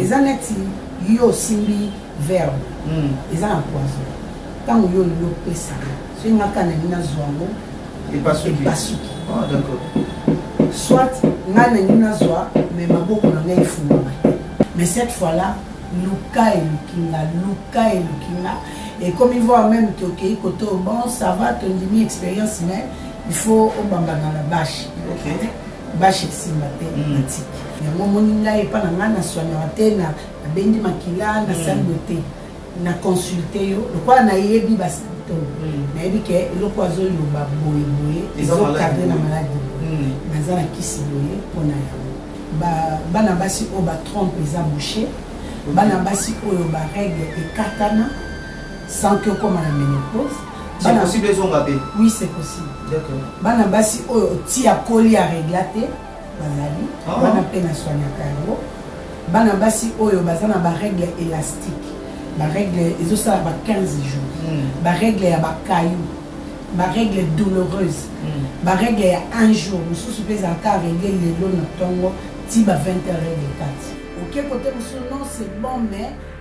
eza neti yo osimbi verbe hmm. eza na poison ntango yo olingi opesaka soki nga kaka nalingi nazwa yango epasuki ah, soit nga nalingi nazwa me maboko na ngai efungama te mais cette fois là luka eluki nga luka eluki nga ekomi voir même tokei kote bon ça va tondimi expérience mais il faut obambana na bashe okay. Bashi esimba te natiki yango omoni ngai epa na ngai naswaniaka te na nabendi makila nasali boye te na consulte yo lokola nayebi basymptome nayebi ke eloko azoloba boye boye ezokadre na maladi boye naza na kisi boye mpo na yango bana basi oyo batrompe eza bouche bana basi oyo barègle ekatana sans ke okoma na menopause C'est possible ezonga pe. Oui, c'est possible. D'accord. Bana basi oyo ti akoli a regla te bazali ah. bana pe na soignaka yango. Bana basi oyo baza na ba règle élastique. Ba règle ezosala ba 15 jours. Mm. Ba règle ya ba cailloux. Ba règle douloureuse. Mm. Ba règle ya un jour mosusu pe ezalaka règle lelo na tongo ti ba 20 heures et 4. Oke kote mosusu non c'est bon mais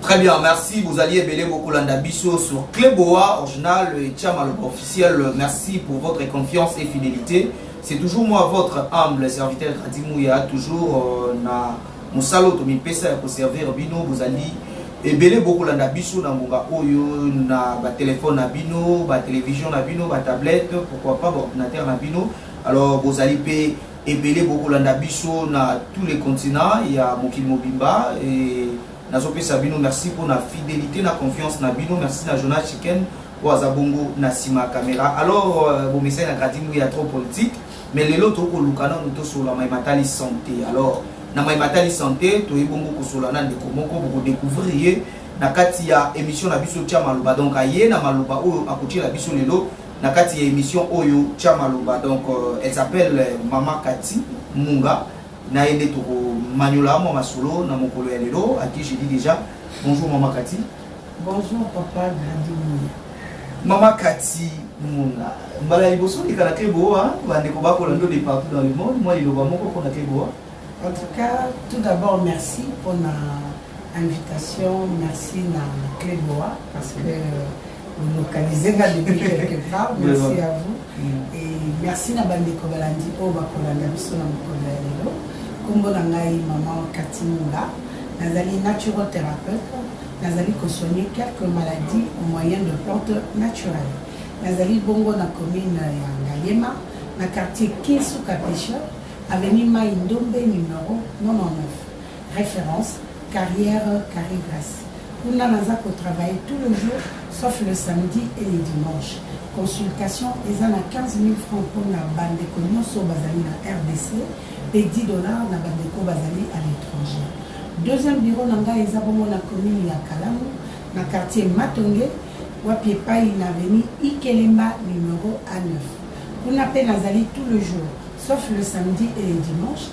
Très bien, merci. Bozali ebele bokolanda biso sur Cleboa original et Chamaloba officiel. Merci pour votre confiance et fidélité. C'est toujours moi votre humble serviteur Radimouya, toujours euh, na mosala oyo tomipesa ya koservir bino bozali ebele bokolanda biso na ngonga oyo na batelefone na bino batelevizio na bino batablette pourquoi pas baordinateur na bino alors bozali mpe ebele bokolanda biso na tous les continents ya mokili mobimba et nazopesa bino merci mpo na fidelité na confiance na bino merci na journal chicken oyo aza bongo na nsima ya kamera alors euh, bomesani na gradi mbuya ya trop politique mais lelo tokoluka nanu tosola mai matali santé alors na mai matali santé toye bongo kosola na ndeko moko bokodécouvrir ye na kati ya émission na biso tya maloba donc aye na maloba oyo akotyela biso lelo na kati ya emission oyo tia maloba donc euh, elle s'appelle euh, mama kati munga na ye nde tokomanyola mwa masolo na mokolo ya lelo à qui je dis déjà bonjour mama kati bonjour papa gradini mama kati munga mbala ya liboso oleka na kleboa bandeko bakola ndo de partout dans le monde mwa liloba moko mpo na kleboa en tout cas tout d'abord merci mpona invitation merci na kleboa parce que euh, Vous localisez nga depuis quelque part. Merci à vous. Et merci na bandeko balandi oyo bakolanda biso na mokolo ya lelo. Kombo na ngai maman Cathy Munda. Nazali natural thérapeute. Nazali kosoigner quelques maladies au moyen de plantes naturelles. Nazali bongo na commune ya Ngaliema, na quartier Kinsuka Pêcheur, avenue Mai Ndombe numéro 99. reference carrière carre grace kuna naza ko travailler tout le jour sauf le samedi et le dimanche consultation eza na 15000 francs mpona bandeko nyonso bazali na rdc mpe 10 dollars na bandeko bazali à l'étranger deuxième bureau na ngai eza bongo na commune ya kalamu na quartier matonge wapi epai na aveni ikelemba numero a 9 kuna mpe nazali tout le jour sauf le samedi et le dimanche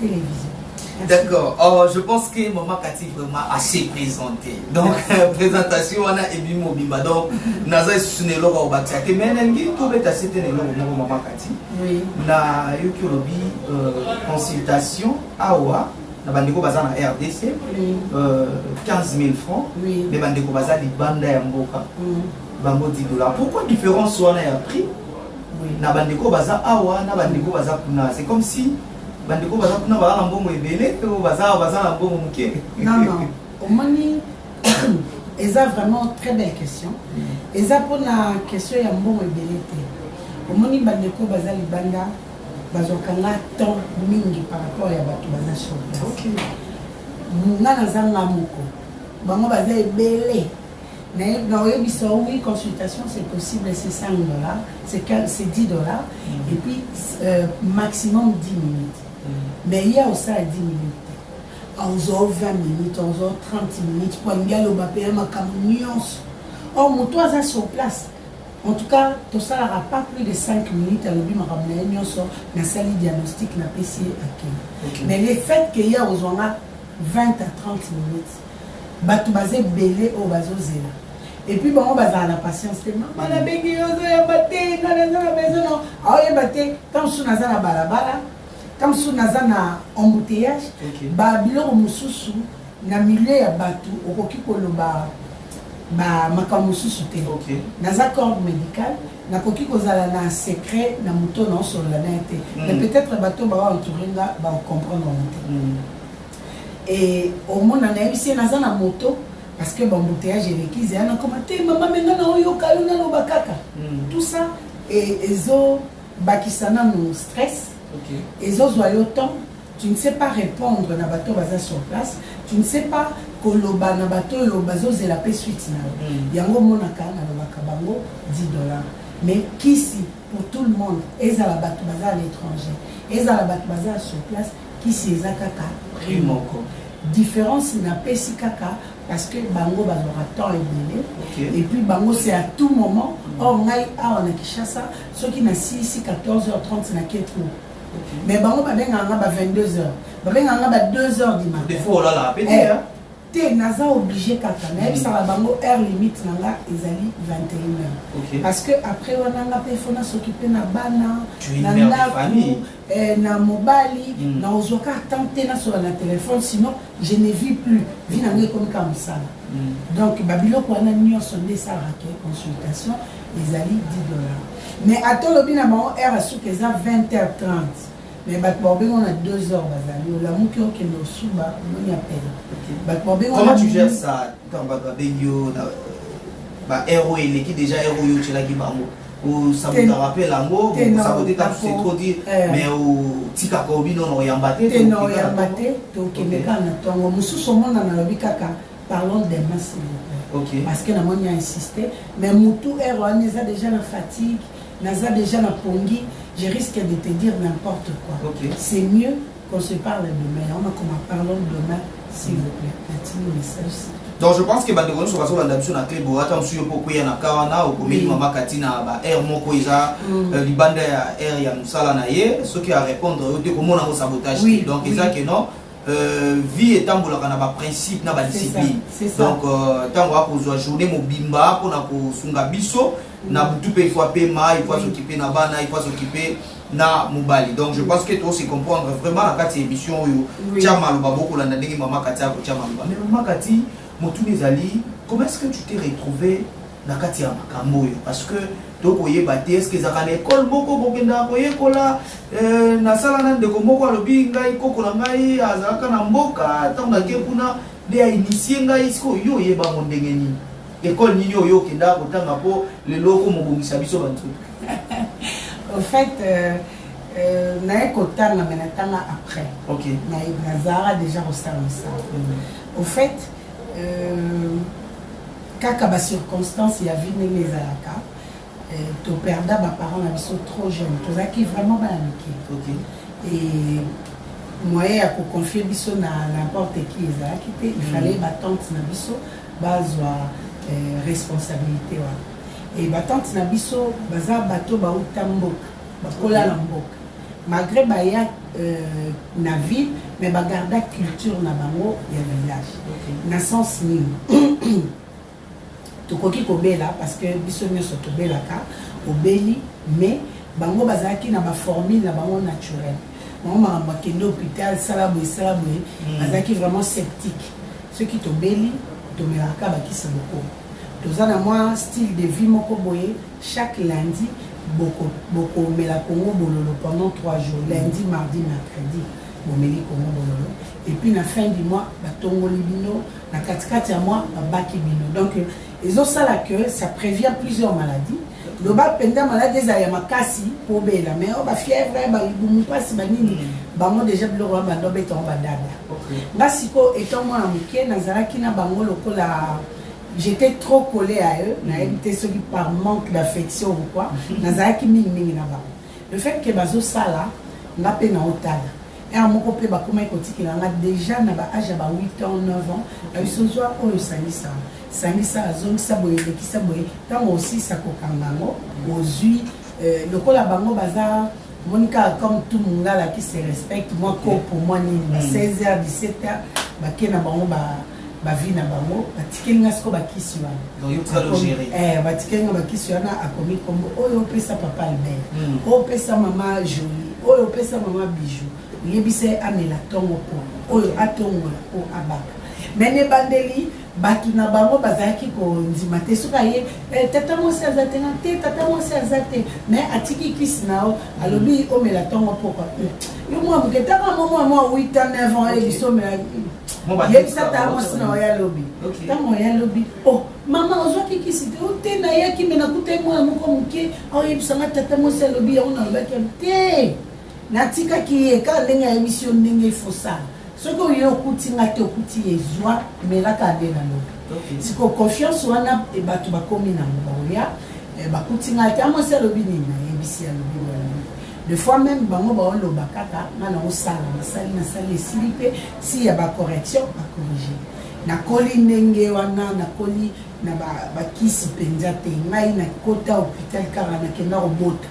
television D'accord. Oh, je pense que Maman Cathy vraiment assez présentée. Donc, présentation, on a Ebi Mobimba. Donc, Naza Sunelo Robati. Ake Menengi, tout bête à citer Nelo Momo Maman Cathy. Oui. Na Yuki Lobi, euh, consultation, Awa. na bandeko baza na rdc oui. euh, 15 000 francs oui. mais bandeko baza libanda ya mboka mm. bango 10 dollars pourquoi différence wana ya prix oui. na bandeko baza awa na bandeko baza kuna c'est comme si bandeko baza kuna baza na mbongo ebele to baza baza na mbongo moke non non omoni eza vraiment très belle question eza mpona question ya mbongo ebele te omoni bandeko baza libanda bazwaka nga temps mingi par rapport ya bato baza sur place nga nazanga moko bango baza ebele Mais dans Ebisa, oui, consultation, c'est possible, c'est 5 dollars, c'est 10 dollars, mm. et puis euh, maximum 10 minutes. Mm. Mais il y a aussi à 10 minutes. aozwa 20 minutes aozwa 30 minutes po alingi aloba mpe ya makambo nyonso or moto aza sur place en tout cas tosalaka pas plus de 5 minutes alobi makambo na ye nyonso nasali diagnostic napesi ye akende mais le fait ke ye aozwa nga 20 à 30 minutes batu baza ebele oyo bazozela epuis bango bazala na patience te mama nabengi yo ozoyamba te nga naza na maison no aoyeba te ka mosusu naza na balabala ka mosusu naza na embouteillage babiloko mosusu na milieu ya bato okoki koloba makambo mosusu te naza corps médical nakoki kozala na secret na moto naosolola na ye te mais mm. peut-être bato baoentoure nga baocomprendre yango te mm. Eh omona nayebisi ye naza na moto parce que bambuteage eleki zeya nakoma te mama me nga naoyoka yo naloba kaka hmm. tout ça e, ezobakisa nanu stress ezozwa yo temps tu ne sais pas répondre na bato baza sur place tu ne sais pas koloba na bato oyo bazozela mpe suite na yo hmm. yango omonaka nalobaka bango 10 dollars mais kisi pour tout le monde ezala bato baza à l'étranger ezala bato baza sur place Kisi eza kaka prix moko difference na pesi kaka parce que bango bazwaka temps ebele okay. et puis bango c'est à tout moment mm. or ngai awa na Kinshasa soki na silisi 14h30 na ketu okay. mais bango babengaka nga ba 22h babengaka nga ba 2h du matin Te naza oblige kaka nayebisaka bango heure limite na nga ezali 21 heure parce que après wana nga pe fona soki pe na bana na ndaku eh, na mobali mm. na ozwa ka temps te nasola na telefone sinon je ne vis plus vi na ngai ekomi kaka mosala mm. donc babiloko wana nyonso nde esalaka consultation ezali 10 dollars mais ata olobi na bango heure ya suka eza 20 heure 30 Mais bato bakobenga na 2 heures bazali olamuki okende osuba omoni apele bato babenga comment tu gères ça ntango bato babengi yo na ba heure oyo eleki déjà heure oyo otyelaki bango osabotaka mpe lango osabote ta c'est trop dire eh. mais otikaka obi nono oyamba te te na oyamba te tokende kaka na ntongo mosusu omona nalobi kaka parlons des masses okay. parce que namoni a insiste mais motu heure wana eza déjà na fatigue Naza dejà na pongi, je risque de te dire n'importe quoi. Okay. C'est mieux qu'on se parle demain. On a comme parlons demain, s'il vous plaît. Natini message. donc je pense que bandeko nyonso bazolanda biso na club ata mosusu yo mpo okweya na ka wana okomeli mama kati na ba aire moko eza mm. euh, libanda ya aire ya mosala na ye soki arépondre yo te komona yango sabotage te donc eza ke non Euh, vie etambolaka na baprincipe na badiscipline donc ntango euh, akozwa journée mobimba mpona kosunga biso na butu mpe ifo apema ifo azokipe na bana ifo azokipe na mobali donc je pense que tose comprendre vraiment na kati ya émission oyo tya maloba bokolanda ndenge mama kati akotya maloba mais mama kati motuna ezali comment est-ce que tu t'es retrouvé na kati ya makambo oyo parce que tokoyeba te eske ezalaka na ekole moko kokendaka koyekola euh, nasala na ndeko moko alobi ngai koko na ngai azalaka na mboka ntango nake kuna nde ainitie ngai sikoyo yo oyebango ndenge nini Ecole nini oyo okendaka kotanga po lelo oko mobongisa biso ba nzoto? Au fait euh, euh, naye kotanga mais natanga après. OK. Na nazara déjà kosala mosala. Mm. Au fait euh, kaka ba circonstances ya vie ndenge ezalaka Eh, to perda ba parents na biso trop jeune tozalaki vraiment bana mike et moyen ya koconfie biso na n'importe qui ezalaki te il fallait mm. batante na biso bazwa eh, responsabilité wana e batante na biso baza bato bauta mboka bakola na mboka malgré baya euh, na ville mais bagarda culture na bango ya village na sens nini tokoki kobela parce que biso nioso tobelaka obeli mais bango bazalaki na ba formule na bango naturel bango makambo akende hôpital sala boye sala boye hmm. bazalaki vraiment sceptique soki tobeli tomelaka bakisi moko toza na mwa style de vie moko boye chaque lundi bokomela boko kongo bololo pendant 3 jours lundi mardi mercredi bomeli kongo bololo epuis na fin du mois batongoli bino na katikati ya mwa babaki bino donc ezosala que ça prévient plusieurs maladies loba mpenza maladi ezala ya makasi mpo obela mai oyo bafièvre balibumu mpasi banini mm. bango deja biloko ya bando obeta yango badada nga sikoyo etant mwana moke nazalaki na bango lokola j'étais trop collé à eux nayebi te soki par manque d'affection ou quoi mm. nazalaki mingimingi na bango Le fait que bazo sala nga pe na otala. Heure moko pe bakomaki kotikela nga déjà na ba âge ya ba 8 ans 9 ans na biso zwa oyo sangisa sangisa azongisa boye lekisa boye ntango osisa kokanga yango ozwi euh, lokola bango baza omoni kaka comme tout mongala qui se respecte mwa kopo mwa nini ba 16 heures 17 heures bake na bango ba ba vie na bango batikeli nga siko bakisi wana batikeli nga bakisi wana akomi kombo oyo opesa papa albert hmm. oyo opesa mama jolie oyo opesa mama bijou yebisa ye amela ntongo po oyo atongola po abaka me na ebandeli bato na bango bazalaki kondima te soki aye eh, tata mwasi aza te na te tata mwasi aza te me atiki kisi na yo alobi omela ntongo pokwa yo mwa moke ntango mwa mwa mwa 8 ans 9 ans ye biso omelaki yebisa ata mwasi na oya lobi ntango oya lobi o oh, mama ozwaki kisi te oh, te nayaki me nakutai mwana moko moke aoyebisanga oh, tata mwasi alobi yango nalobaki te natikaki ye kaka ndenge ayebisi yo ndenge ifosala soki oye okuti nga te okuti ye zwa melaka ade na lobi siko confiance wana e, bato bakomi nango baoya e, bakuti nga te amwasi alobi nini nayebisi alobi De fois meme bango bao loba kaka nga na osala na sali na sali esili pe si ya ba correction ba corriger. Na koli ndenge wana na koli na ba ba kisi penza te ngai na kota hopital kaka na kenda ko bota.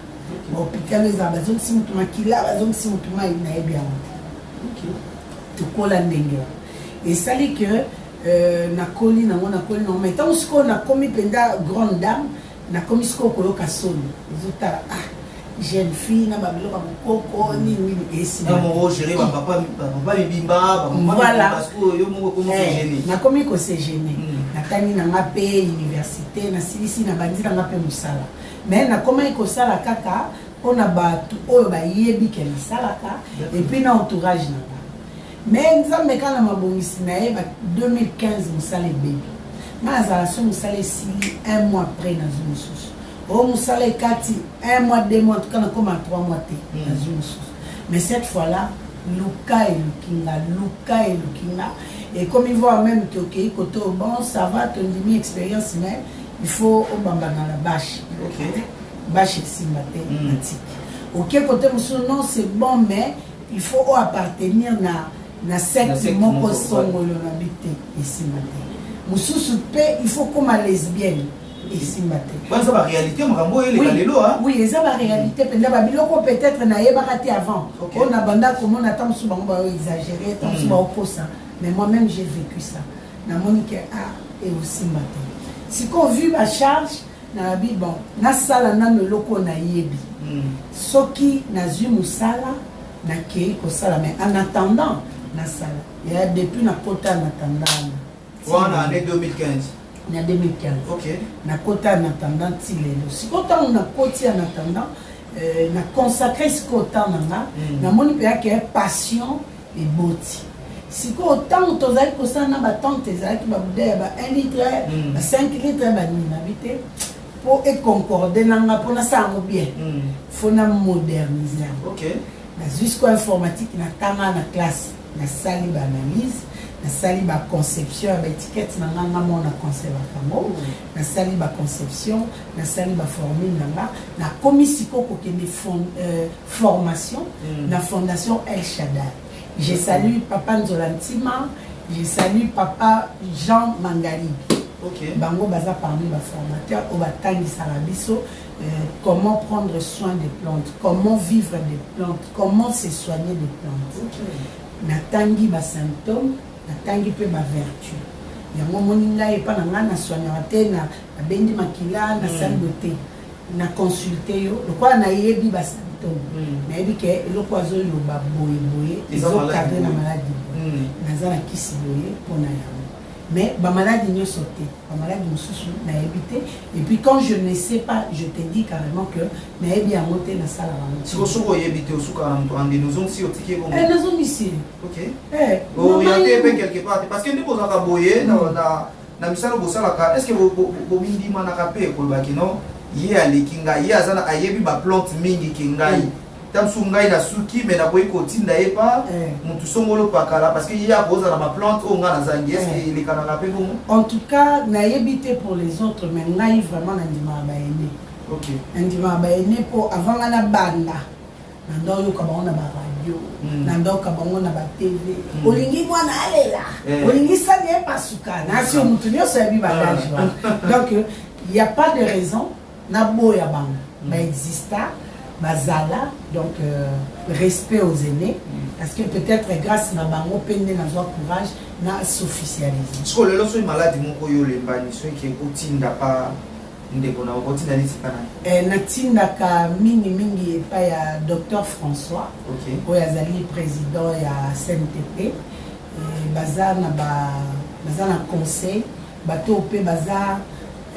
Ba hopital eza ba zongisi mutu makila ba zongisi mutu mai na yebi yango te. Okay. Tokola ndenge wana. Esali que euh, na koli na ngo na koli na ngo mais tango sikoyo na komi penza grande dame Nakomi sikoyo koyoka soni ezotala ah jeune fille na ba biloko ya mokoko nini nini esimagere bapapa mibimba nakomi kosegene natangi na nga mpe université nasilisi nabandi na nga mpe mosala mais nakomaki kosala kaka mpona bato oyo bayebi ke nasalaka epuis na entourage na nga Mais nzambe kaka na mabongisi na ye ba 2015 mosala ebebi nga nazala so mosala esili un mois après nazwi mosusu o oh, mosala ekati un mois deux mois tuka nakoma trois mois te hmm. nazwi mosusu mais cette fois là luka eluki nga luka eluki nga ekomi voir même te okei kote bon ça va tondimi expérience mais il faut obambana na bashe okay. bashe esimba te hmm. natiki oke kote mosusu non c'est bon mais il faut o appartenir na na secte moko songolo na bi te esimba te mosusu mpe il faut koma lesbienne esimba te eza baréalité makambo oyo eleka lelo oui eza baréalité mpenza babiloko peut-être nayebaka te avant oyo na banda komona ata mosusu bango bao exagéré ata mosusu hmm. baokosa mais moi même j'ai vécu ça namoni ke a ah, eosimba te sikoyo vu bacharge Nalobi bon nasala nanu eloko oyo nayebi soki nazui musala nakeyi kosala mais en attendant nasala yaya depuis nakota en attendant wana wana annee 2015 na 2015 okay. nakota en attendant ti lelo sikoyo ntango nakoti en attendant euh, na consacre sikoyo temps na nga mm. namoni mpe yake passion eboti sikoyo ntango tozalaki kosala na batante ezalaki babuda ya ba 1 litre mm. ba 5 litre banini nabi te mpo econcorde na nga mpo nasala yango bien mm. fo na modernise yango nazwi sikoyo informatique natanga na classe nasali baanalyse nasali baconception ya baetikete na nga nga moko na conservaka yango mm. nasali baconception nasali baformule na nga nakomi sikoyo kokende euh, formation na fondation El Shaddai. Je salue papa Nzola Ntima, je salue papa Jean Mangalibi. Okay. Bango baza parmi ba formateurs oyo batangisaka biso euh, comment prendre soin des plantes, comment vivre des plantes, comment se soigner des plantes. Okay. Natangi ba symptômes, natangi mpe ba vertu. Yango moni ngai epa na ngai na soignaka te na nabendi makila na mm. sali bote. na consulte yo lokola nayebi ba symptome nayebi ke eloko azoloba boye boye ezokadre na maladi hmm. naza na kisi boye mpo na yango mais bamaladi nyonso te bamaladi mosusu nayebi te epuis quand je ne sais pas je te dis carrément que nayebi yango te nasala bango soki oyebi te osukaka na moto andini ozongisi otiki ebongo eh, nazongisi eh, oriente mpe quelque part te parce que nde kozalaka boye na na misala bosalaka eske bomindimanaka mpe koloba kino ye aleki ngai ye aza na ayebi baplante mingi ke ngai ta mosusu ngai nasuki me nakoki kotinda ye pa motu songolo pakala parce que ye akoza na baplante oyo ngai nazangi eske elekanaka mpe bongo en tout cas nayebi te pour les autres mais ngai vraiment nandimaka baene nandimaka baene mpo avant ngai nabanda na nda oyoka bango na ba radio na nda oyoka bango na ba tv olingi mwana alela olingi sani epasuka na sio moto nyonso yabi badage wana donc il y a pas de raison naboya bango baexista bazala donc euh, respect aux aînés parce que peut-être grâce na bango mpe nde nazwa courage na s'officialise siko lelo soki maladi moko yo olembani soki otinda pa Ndeko na oko tinda neti pana. Eh, na tindaka mingi mingi epa ya Docteur François. Ok. Oyo azali president ya CNTP. Eh, baza na ba, baza na conseil. Bato pe baza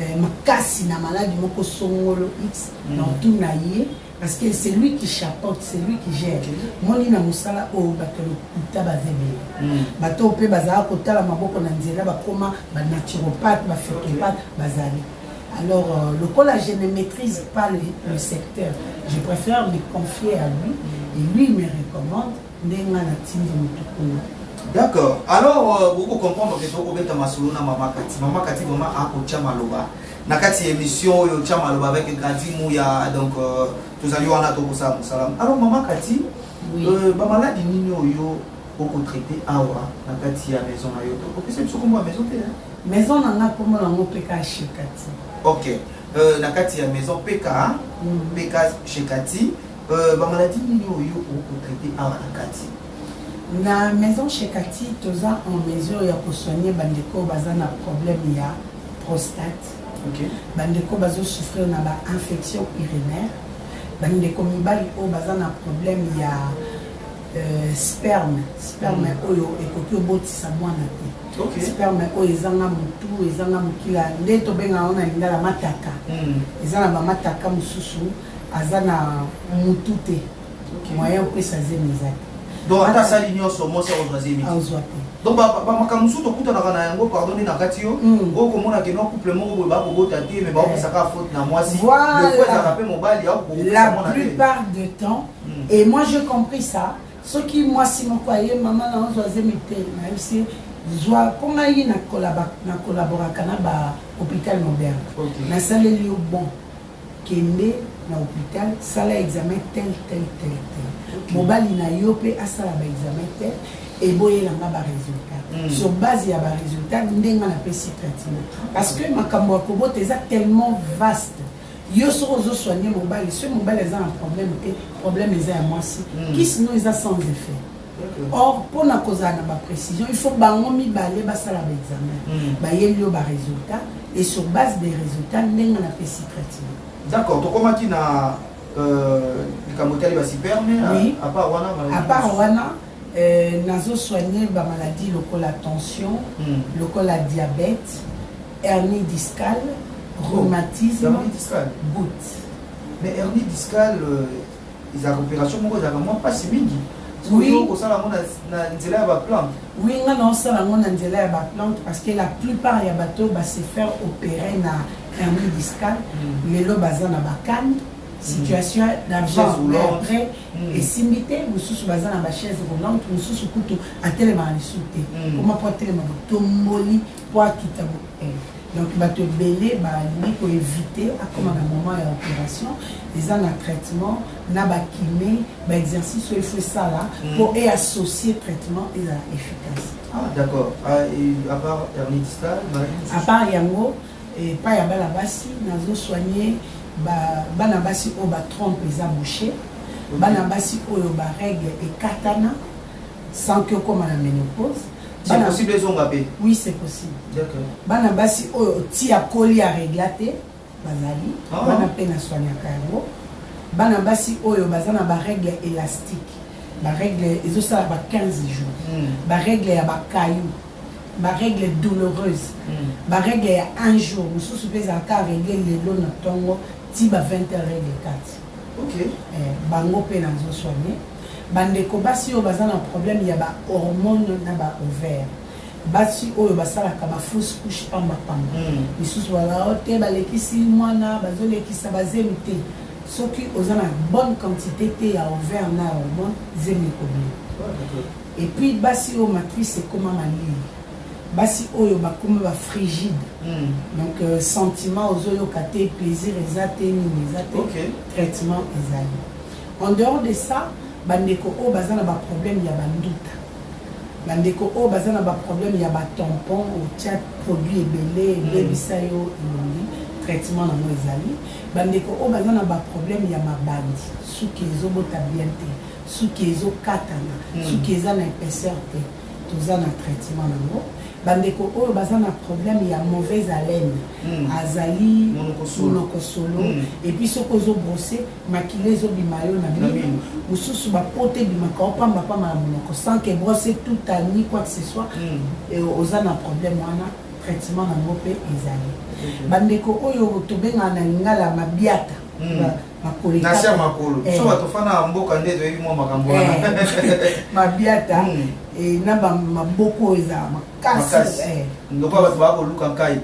eh, makasi na maladi moko songolo X. Mm. Na otuna ye. Parce que c'est lui qui chapote, c'est lui qui gère. Moni na musala oyo bato lokuta baza ebele. Hmm. Bato mpe bazalaka kotala maboko na nzela bakoma ba naturopathe, ba phytopathe bazali. Alors euh, lokola je ne maîtrise pas le, le secteur, je préfère me confier à lui et lui me recommande Nde nga na tindi mutu kuna. D'accord. Alors, euh, boko comprendre que toko beta masolo na Mama Kati. Mama Kati vraiment a ko tia maloba. Na kati émission oyo tia maloba avec Grady Mouya donc euh, tozali wana toko sala musala. Alors Mama Kati, oui. euh, ba maladi nini oyo oko traiter awa na kati ya maison na yo to. Opesa biso kombo ya maison te. Hein? Maison na nga kombo na ngo peka chez Kati. OK. Euh, na kati ya maison peka, mm. peka chez Kati. Euh, ba maladie nini oyo oko traiter awa na kati na maison chez Cathy toza en mesure ya ko soigner bandeko baza na problème ya prostate okay. bandeko bazo souffrir na ba infection urinaire bandeko mibali oyo baza na problème ya euh, sperme sperme mm. oyo ekoki obotisa mwana te okay. sperme oyo ezanga motu ezanga mokila nde tobengaka wana lingala mataka mm. eza na bamataka mosusu aza na mutu te moyen opesa zemi eza te donc ata asali nyonso mwasi akozwa zemi azwa te donc bamakambo mosusu tokutanaka na yango pardon nde na kati yo hmm. oyo komona keno couple moko boye bakobota te me baopesaka eh. faute na mwasi ezalaka mpe mobali la plupart de temps hmm. et moi je compris ça soki mwasi moko aye mama na ozwa zemi te nayebisi zwa mpo ngai na collaboraka na ba hôpital moderne nasaleli yo bon kende na hopital sala examen tel tel tel tel mobali na yo mpe asala ba examen tel eboyela nga ba resultat mm. sur base ya ba resultat nde nga napesi traitement parce que makambo ya kobota eza tellement vaste yo soki ozosoigne mobali soki mobali aza na problème te problème eza ya mwasi mm. kisino eza sans effet Or, mpo na kozala na ba precision, il faut bango mibale basala ba examen mm. bayeli yo ba resultat et sur base des resultats ndenge na pesi traitement. D'accord, tokomaki na euh, likambo etali ba sperme oui. à part wana à part wana euh, nazo soigner ba maladie lokola tension mm. lokola diabète hernie discale oh. rhumatisme oh, discale. goutte mais hernie discale euh... ezalaka operation moko ezalaka mwa mpasi mingi kosala yango na nzela ya baplante oui nga naosala yango na nzela ya baplante parce que la plupart ya bato ba se faire opérer na hernie discale hmm. lelo baza na bakane situation d'avant mais après mm. esimbi te mosusu baza na bachaise roulante mosusu kutu atelemaka lisusu te koma mm. mpo atelema botomboli mpo akita eh. Donc bato ebele balingi ko eviter akoma na moment ya operation eza na traitement na ba kine ba exercice oyo il faut esala mpo e associer traitement ezala efficace. Ah, d'accord. Ah, et à part hernie discale, maladie mosusu? À part yango, epai ya bana basi nazo soigner ba bana basi oyo ba trompe eza bouche, bana basi oyo ba règle ekatana, sans que okoma na menopause c'est possible ezonga pe oui c'est possible d'accord bana basi oyo ti akoli ya regla te bazali ah. wana pe na soignaka yango bana basi oyo baza na ba règle élastique ba règle ezosala ba 15 jours hmm. ba règle ya ba caillou ba règle douloureuse hmm. ba règle ya un jour mosusu pe ezalaka règle lelo na ntongo ti ba 20 heures règle 4 okay. eh, bango pe nazo soigner Ba ndeko basi oyo baza na problème ya ba hormones na ba ovaires, basi oyo basalaka ba fausse couche pamba pamba, misusu baloba oh te balekisi muana, bazo lekisa ba zemi te, soki oza na bonne quantite te ya ovaires na ya hormones, zemi ekobima. Et puis basi oyo matrice ekoma malili, basi oyo bakoma ba frigide, donc sentiment ozo yoka te, plaisir eza te, nini eza te, traitement ezali. En dehors de ça, ba ndeko oyo baza na ba problèmes ya ba nduta, ba ndeko oyo baza na ba problèmes ya ba tampons, otia produit ebele ebebisa yo elongi, traitement nango ezali. Ba ndeko oyo baza na ba problèmes ya mabandi, suki ezo bota bien te, suki ezo katana, suki eza na epaisseur te, toza na traitement nango. Ba ndeko oyo baza na problème ya mauvaise haleine, azali monoko solo, et puis soki ozo brosser makila ezo bima yo na mino mususu ba pote bimaka yo pamba pamba na monoko sans que brosse tout a ni quoi que ce soit mm. oza na problème wana traitement na ngo pe ezali mm-hmm. bandeko oyo tobengana na lingala mabiata mm. nasia makolo eh. so bato fana ya mboka nde toyebi mwa makambo wana eh. mabiata mm. eh, na maboko oyo eza makasi ndoko bato bakoluka nkai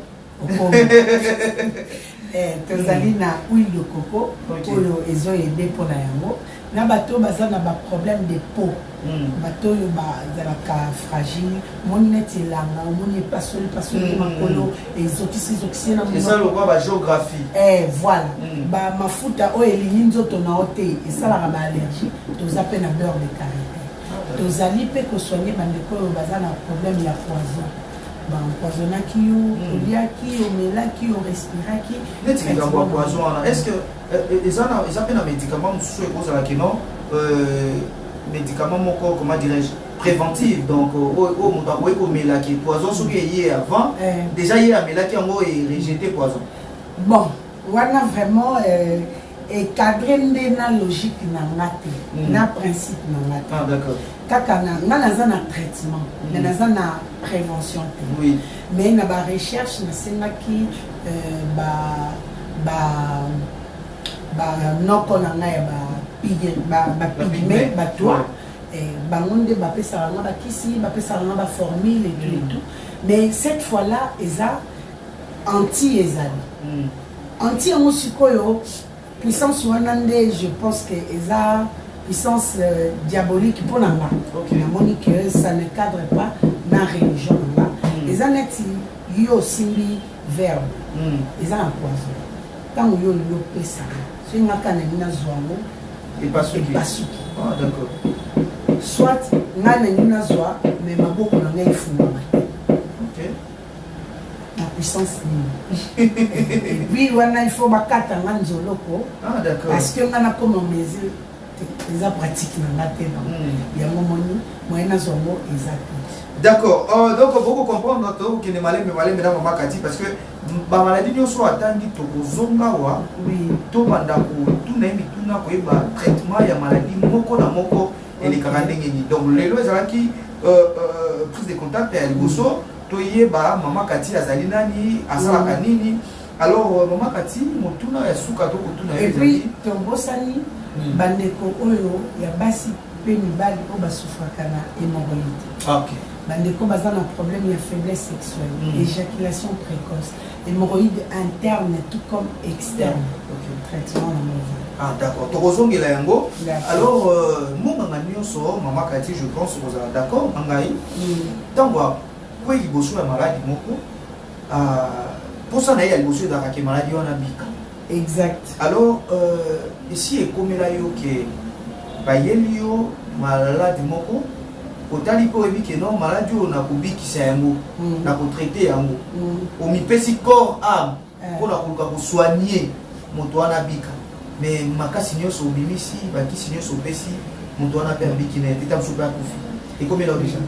eh, tozali na huile de coco oyo ezo ede mpo na yango na bato oyo baza na baproblème de peau hmm. bato oyo bazalaka fragile omoni neti elanga omoni epasoli pasoli hmm. makolo ezokisi ezokisi na eza lokola bagéographie eh, voilà hmm. bamafuta oyo elingi nzoto na yo te esalaka baallergie toza mpe na beurre de carité ah, tozali mpe kosoigne bandeko oyo baza na problème ya poison ba empoisonnaki yo hmm. oliaki omelaki o respiraki neti likambo ya poison wana est ce que eh, eh, eza na eza mpe na médicament mosusu ekozala ke non euh, médicament moko comment dirais-je préventive donc euh, oyo oh, oh, moto akoki komelaki poison soki eye avant eh. déjà ye amelaki yango e rejete poison bon Wana vraiment eh, e cadre nde na logique na nga te mm. na principe na nga te ah, d'accord kaka na nga naza na traitement mm. mais naza na prévention te oui. mais na ba recherche nasengaki euh, ba ba ba noko na nga ya ba pigme ba, ba pigme ba toi ouais. Eh, bango nde bapesaka nga bakisi bapesaka nga baformule et tout et mm. tout mais cette fois là eza Anti ezali anti yango sikoyo puissance wana nde je pense que eza puissance euh, diabolique mpo na nga okay. namoni que ça ne cadre pas na religion na nga mm. eza neti yo osimbi verbe mm. eza na poison ntango yo olingi opesaka soki nga kaka nalingi nazwa yango epasuki ah, soit nga nalingi nazwa me maboko na ngai efungama Na puissance nini? Et puis wana il faut bakata nga nzoloko. Ah d'accord. Parce que nga nakoma mesure eza pratique na nga te na hmm. yango moni moyen nazwa ngo eza te. D'accord. Euh, donc boko comprendre tokokende malembe malembe na mama kati parce que bamaladi nyonso oyo atangi tokozonga awa tobanda kotuna ye mituna koyeba traitement ya maladi moko na moko elekaka ndenge nini donc lelo ezalaki euh, euh, prise de contact ya liboso Toyeba mama Cathy azali nani, asalaka nini? Alors euh, mama Cathy, motuna ya suka to kotuna yo ezali. Et puis tobosani hmm. bandeko oyo ya basi pe mibali oyo basufraka na hémorroïde. Ah, okay. bandeko baza na problème ya faiblesse sexuelle mm. éjaculation précoce hémorroïde interne tout comme externe mm. okay. traitement na mova ah d'accord tokozongela yango alors euh, monganga nyonso mama kati je pense kozala d'accord na ngai ntango akwei liboso ya maladi moko mposa na ye ya liboso ezalaka ke maladi wana bika exact alors euh, esi ekomela yo ke bayeli yo maladi moko otali mpo oyebi ke non maladi oyo nakobikisa yango hmm. nakotraite yango hmm. omipesi corps ame pona koluka ko soigner moto wana abika mais makasi nionso obimisi bakisi nionso opesi moto wana pe abiki na te tamosu pe akufi ekomela deja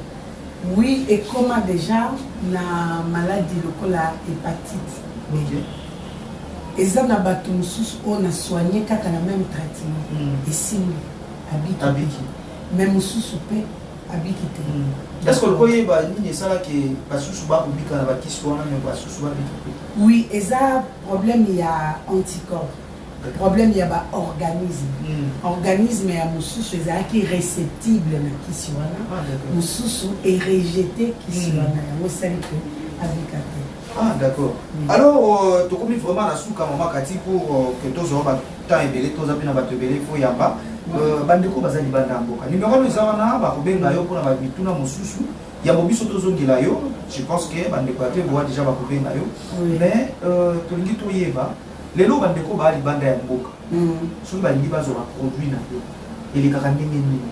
oui ekoma deja na maladi lokola hepatite okay. eza na bato mosusu oyo na soigne kaka na meme traitement mm. esimbi abiki, abiki. me mosusu mpe abiki te est ce que oloko yeba nini esalaki basusu bakobika na bakisi wana me basusu babiki te oui eza problème ya anticorps problème ya baorganisme mm. organisme ya mosusu ezalaki réceptible na kisi wana ah, mosusu erejete kisi hmm. wana yango esali ke abika te ah d'accord mm. alors euh, tokomi vraiment na suka mama kati pour euh, que tozwa bato temps ebele toza mpe na bato ebele ifo yamba euh, bandeko baza libanda ya mboka nimero wana eza wana bakobenga yo mpona mituna mosusu yambo biso tozongela yo je pense que bandeko ya peboa déjà bakobenga yo mais euh, tolingi toyeba lelo bandeko baa libanda ya mboka mm. soki balingi bazwa baproduit na yo elekaka ndenge nini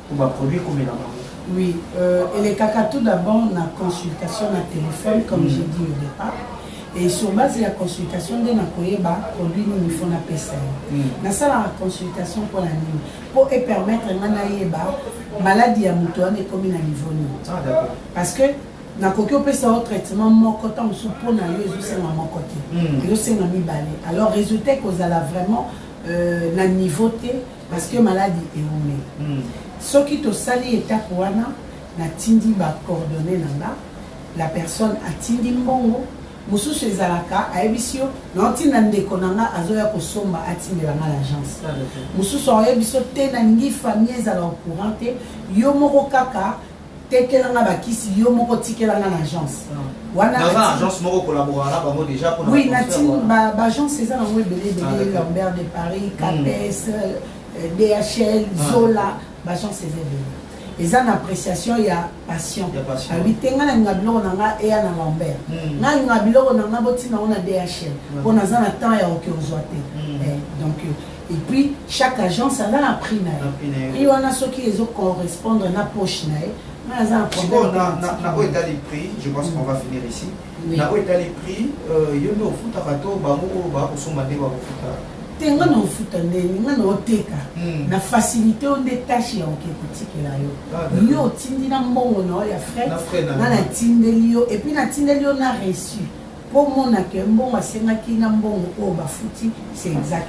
Pour ba produits komela bango. Oui, euh, elekaka tout d'abord na consultation na téléphone comme mm. j'ai dit au départ. Et sur base ya consultation nde nakoyeba produit nini faut napesa ye mm. nasalaka consultation mpo na nini mpo epermettre nga nayeba maladi ya moto wana ekomi na niveau nini ah, parce que nakoki opesa yo traitement moko ntango mosusu mpo na yo ezosenga moko te mm. ezosenga mibale alors résultat ekozala vraiment euh, na niveau te Parce que maladi ewumeli. Hum. Soki tosali etape wana, natindi ba coordonnees na nga, la personne atindi mbongo, mosusu ezalaka ayebisi yo naotinda ndeko na nga azoya kosomba atindela nga l'agence mosusu aoyebi so te nalingi famille ezala au courant te yo moko kaka Tekela nga ba kisi yo moko tikela nga na agence. Wana na ba agence moko collaborer na bango déjà pour Oui, na tin ba ba agence eza na ngwe belé belé ah, Lambert de Paris, hmm. Capes, euh, DHL, ah. Zola, ba agence eza belé. Eza na appréciation ya passion. Abi ah tenga na nga biloko na nga eya na Lambert. Hmm. Na nga biloko na nga botina ona DHL. Pona za na temps ya okiozwa te. Eh, donc Et puis chaque agence a na prix na ye. Prix wana soki ezo correspondre na poche na ye. Nga naza na problème. Na na oyo etali prix, je pense qu'on va finir ici. Na oyo etali prix, euh, yo nde ofutaka to bango oyo bakosomba nde bakofutaka. te nga na ofuta ndenge nga na oteka hmm. na facilité oyo nde tâche ya oke kotikela yo ah, yo otindi na mbongo na yo ya frais nga natindeli yo epuis natindeli yo na reçu Po omona que mbongo asengaki na mbongo oyo bafuti c'est exact.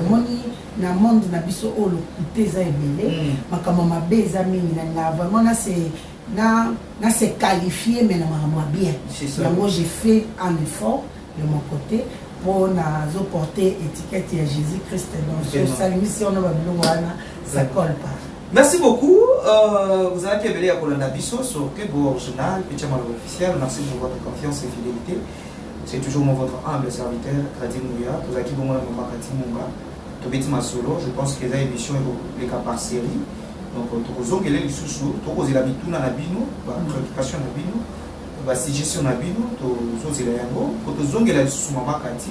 Omoni na monde na biso oyo lokuta eza ebele, makambo ya mabe eza mingi. Nalingaka vraiment na se na na se qualifier mais na makambo ya bien. Yango je fais un effort de mon cote po nazo porter etiquette ya Jesus Christ dans osali mission na ba biloko wana ça colle pas. Merci beaucoup. Euh, vous avez révélé à Kolanda Bisso sur Kebo Original, Pichama officiel. Merci pour votre confiance et fidélité. C'est toujours mon votre humble serviteur, Kradim Mouya. Vous avez bon moment Kradim Mouya. Tobeti Masolo, je pense que les émissions les cas par série. Donc, euh, tokozongele lisusu, tokozela bituna na bino, ba préoccupation na bino, ba suggestion na bino, tozozela yango, tozongela lisusu mama Kati.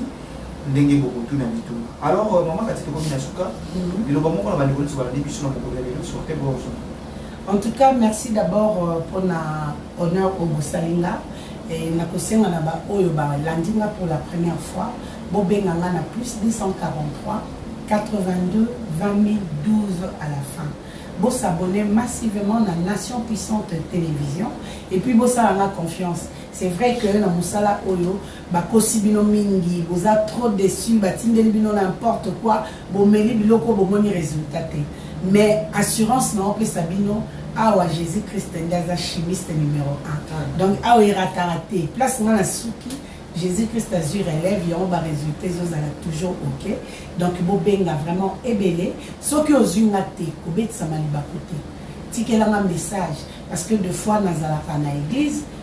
ndenge bokotuna mituna. Alors euh, mama kati tokomi na suka mhm. liloba moko na bandeko nyonso balandi biso na mokolo ya lelo sorte bonjour en tout cas merci d'abord euh, mpona honneur oyo bosali nga nakosenga na baoyo balandi nga pour la première fois bobenga nga na plus 243 82 20 12 à la fin s'abonner massivement na nation puissante télévision et puis bosala nga confiance c'est vrai que na mosala oyo Bakosi bino mingi boza trop deçu batindeli bino n'importe quoi bomeli biloko bomoni resultat te mais assurance nao pesa bino awa Jesus Christ nde aza chimiste numero 1 donc awa erataka te place nga na suki Jesus Christ azui relève yango ba resultat ezozala toujours ok donc bobenga vraiment ebele soki ozui nga te kobetisama libaku te tikelanga message parce que de fois nazalaka na eglise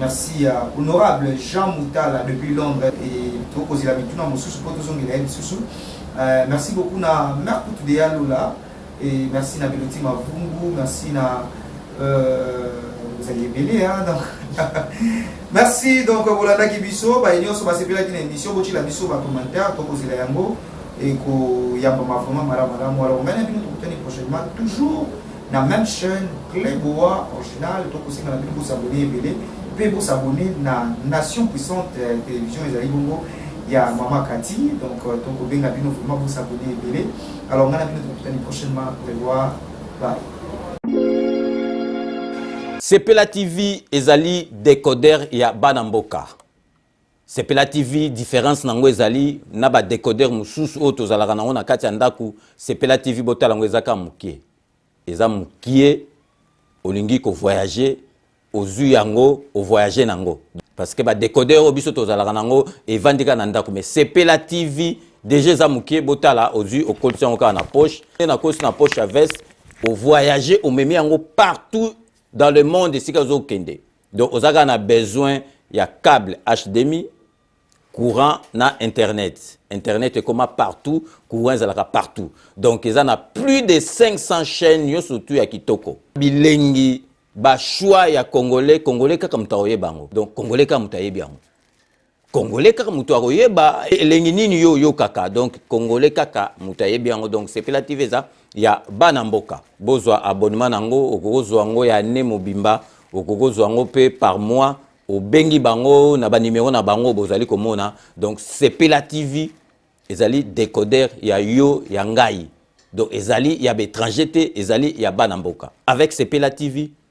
Merci ya honorable Jean Moutala depuis Londres et tokozela mituna mosusu mpo tozongela ye lisusu. Euh, merci beaucoup na mère Kutu de Yalola et merci na Biloti Mavungu, merci na euh, vous allez belé hein donc merci donc bolandaki biso baye nyonso basepelaki na émission botyela biso bacommentaire tokozela yango ekoyambama vraiment malamu malamu alors ngai na bino tokutani prochainement toujours na meme chaîne Cle Boa original to kosenga na bino bosabone ebele mpe bosabone na Nation Puissante euh, Télévision ezali bongo ya Mama Kati donc euh, tokobenga bino vraiment bosabone ebele alors ngai na bino tokutani prochainement Cle Boa bye Sepela TV ezali decoder ya bana mboka. Sepela TV difference nango ezali na ba decoder mususu oyo tozalaka nango na kati ya ndaku Sepela TV botala ngo eza ka mukie eza mukie olingi ko voyager ozui yango o voyager nango parce que ba decoder oyo biso tozalaka nango evandi ka na ndaku mais Sepela TV deja eza mukie botala ozui okolisi yango kaka na poche na kosi na poche ya veste o voyager omemi yango partout dans le monde esika ozokende donc oza kaka na besoin ya cable hdmi courant na internet internet ekoma partout courant ezalaka partout donc eza na plus de 500 chaîne nyonso tu ya kitoko bilengi bachoix ya congolais congolais kaka moto akoyeba yango donc congolais kaka moto ayebi yango congolais kaka moto akoyeba elengi nini yo oyokaka donc congolais kaka moto ayebi yango donc sepela tv eza ya bana mboka bozwa abonnement na yango okoki kozwa yango ya ne mobimba okoki kozwa yango mpe par mois obengi bango na banimero na bango bozali komona donc sepela tv ezali decoder ya yo ya ngai donc ezali ya baétranger te ezali ya bana mboka avec sepela tv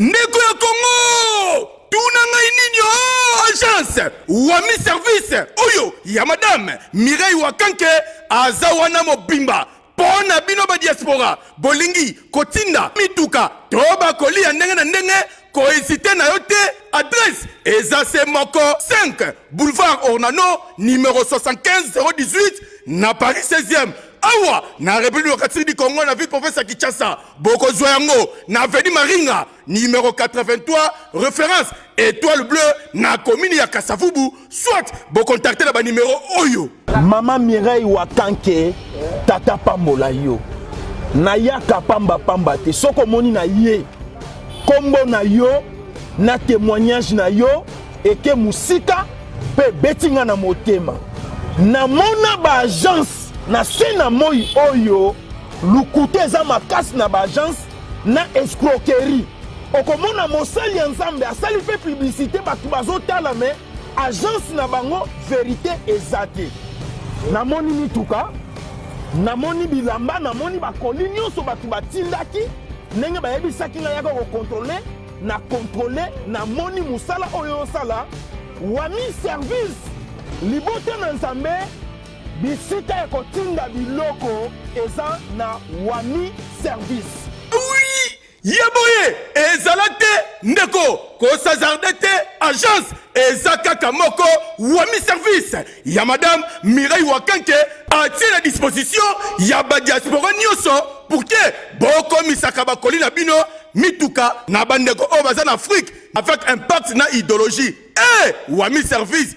ndeko ya kongo tuna ngai nini o oh, agence wami service oyo ya madame mireille wakanke aza wana mobimba mpo na bino badiaspora bolingi kotinda mituka to bakoli ya ndenge na ndenge koezite na yo te adrese eza se moko 5 boulevard ornano numero 75 018 na paris 16e awa na République démocratique du Congo na ville province ya Kinshasa bokozwa yango na avenue Maringa numéro 83 référence étoile bleue na commune ya Kasavubu soit bocontacte na banimero oyo mama Mireille Wakanke tata pambola yo nayaka pamba pamba te soki omoni na ye nkombo na yo na témoignage na yo eke mosika mpe ebeti ngai na motema namona baagence Na se na moi oyo lokuta eza makasi na ba agence na escroquerie. Okomona mosali ya Nzambe asali mpe publicité bato bazotala me agence na bango verite eza te. Namoni mituka, namoni bilamba, namoni bakoli nyonso bato batindaki ndenge bayebisaki ngai yaka kokontrole na kontrole namoni mosala oyo osala wami service libota na nzambe Bisika ya kotinda biloko eza na wami service. ye boye ezala te ndeko kosazarde te agence eza kaka moko wami service ya madame mirai wakanke atie na disposition ya badiaspora nyonso pour te bokomisaka bakoli na bino mituka na bandeko oyo baza na afrique avec impact na idéologie e eh, hey, wami service